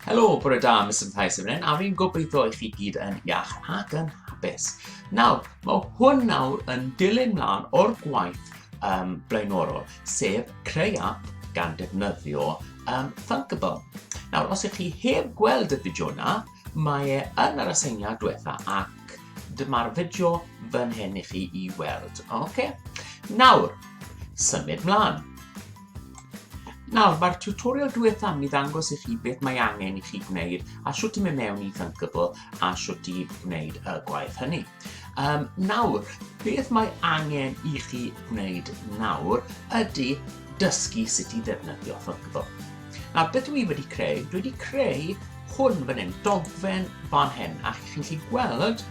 Helo, bore da, mis yn Thais yn a fi'n gobeithio i chi gyd yn iach ac yn hapus. Nawr, mae hwn nawr yn dilyn mlaen o'r gwaith um, blaenorol, sef creu app gan defnyddio um, Thunkable. Nawr, os ych chi heb gweld y fideo yna, mae e yn yr aseiniad diwetha ac dyma'r fideo fan hyn i chi i weld. Oce? Okay? Nawr, symud mlaen. Nawr, mae'r tutorial diwetha yn mynd i ddangos i chi beth mae angen i chi gwneud a sut i mynd mewn i Thunkable a sut i wneud y gwaith hynny. Um, nawr, beth mae angen i chi wneud nawr ydy dysgu sut i ddefnyddio Thunkable. Nawr, beth dwi wedi creu? Dwi wedi creu hwn fan hyn, dogfen fan hyn, a chi'n gallu gweld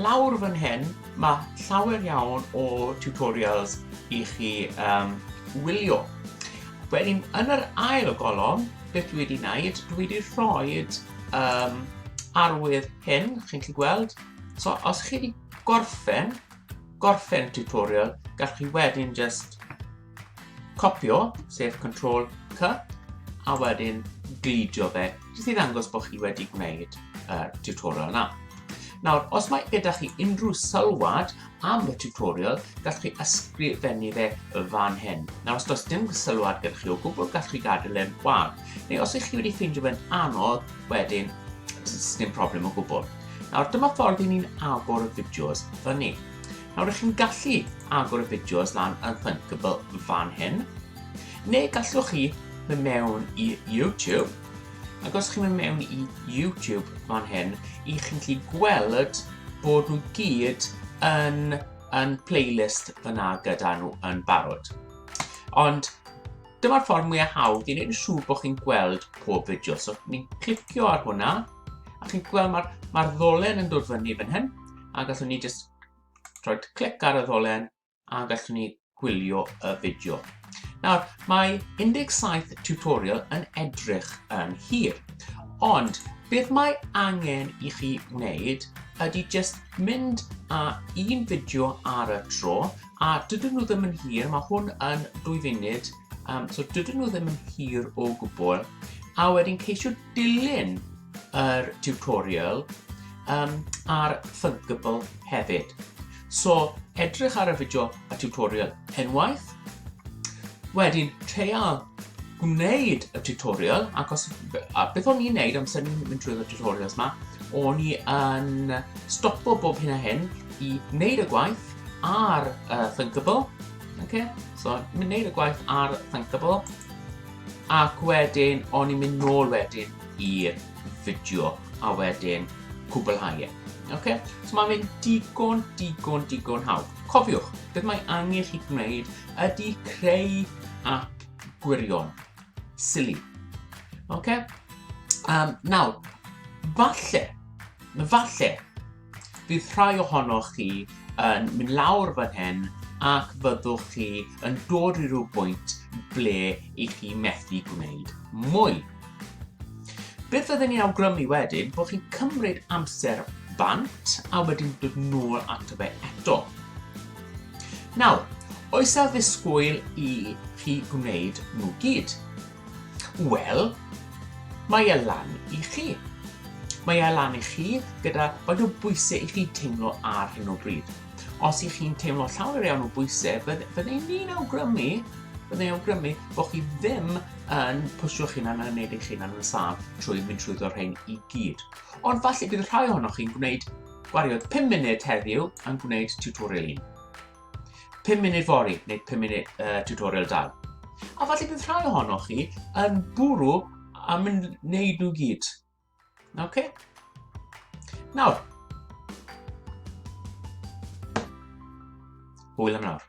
lawr fan hyn Mae llawer iawn o tutorials i chi um, wylio. Wedyn, yn yr ail golofn, beth dwi wedi wneud, dwi wedi rhoi um, arwydd hyn, chi'n chi gweld. So, os chi wedi gorffen, gorffen tutorial, gallwch chi wedyn just Copio, sef Ctrl C, a wedyn gludio fe, jyst i ddangos bod chi wedi gwneud y tutorial yna. Nawr, os mae gyda chi unrhyw sylwad am y tutorial, gallwch chi ysgrifennu fe y fan hyn. Nawr, os does dim sylwad gyda chi o gwbl, gallwch chi gadael e'n gwag. Neu os ych chi wedi ffeindio fe'n anodd, wedyn, dim problem o gwbl. Nawr, dyma ffordd i ni'n agor y fideos fyny. Nawr ydych chi'n gallu agor y fideos lan yn Thinkable fan hyn, neu gallwch chi mynd mewn i YouTube, ac os chi'n mynd mewn i YouTube fan hyn, i chi'n gallu gweld bod nhw gyd yn, yn playlist fyna gyda nhw yn barod. Ond dyma'r ffordd mwyaf hawdd i wneud yn siŵr bod chi'n gweld pob fideo. So, ni'n clicio ar hwnna, a chi'n gweld mae'r mae ddolen yn dod fyny fan hyn, a gallwn ni jyst rhoi clic ar y ddolen a gallwn ni gwylio y fideo. Nawr, mae 17 tutorial yn edrych yn hir, ond beth mae angen i chi wneud ydy just mynd â un fideo ar y tro, a dydyn nhw ddim yn hir, mae hwn yn dwy funud, um, so dydyn nhw ddim yn hir o gwbl, a wedyn ceisio Dilyn yr tutorial um, ar Thunkable hefyd. So, edrych ar y fideo a tutorial unwaith, wedyn treial gwneud y tutorial, ac os, a beth o'n i'n neud amser ni'n mynd trwy y tutorials yma, o'n i yn stopo bob hyn a hyn i wneud y gwaith ar uh, Thinkable. Okay? So, mynd wneud y gwaith ar Thinkable. Ac wedyn o'n i'n mynd nôl wedyn i'r fideo a wedyn cwblhau e. Ok? So mae'n mynd digon, digon, digon hawdd. Cofiwch, beth mae angen chi gwneud ydy creu app gwirion. Silly. Ok? Um, nawr, falle, falle, Bydd rhai ohonoch chi yn mynd lawr fan hyn ac fyddwch chi yn dod i rhyw bwynt ble i chi methu gwneud mwy. Beth fydden ni'n awgrymu wedyn bod chi'n cymryd amser bant a wedyn dod nôl ato fe eto. Nawr, oes a ddisgwyl i chi gwneud nhw gyd? Wel, mae e lan i chi. Mae e lan i chi gyda faint o bwysau i chi teimlo ar hyn o bryd. Os i chi'n teimlo llawer iawn o bwysau, byddai'n ni'n awgrymu byddai'n awgrymu bod chi ddim yn pwysio'ch hunan yn gwneud eich hunan yn saf trwy mynd trwy ddod rhain i gyd. Ond falle bydd rhai ohonoch chi'n gwneud gwariodd 5 munud heddiw yn gwneud tutorial un. 5 munud fori neu 5 munud uh, tutorial dal. A falle bydd rhai ohonoch chi yn bwrw a mynd wneud nhw gyd. Okay? Nawr, hwyl am nawr.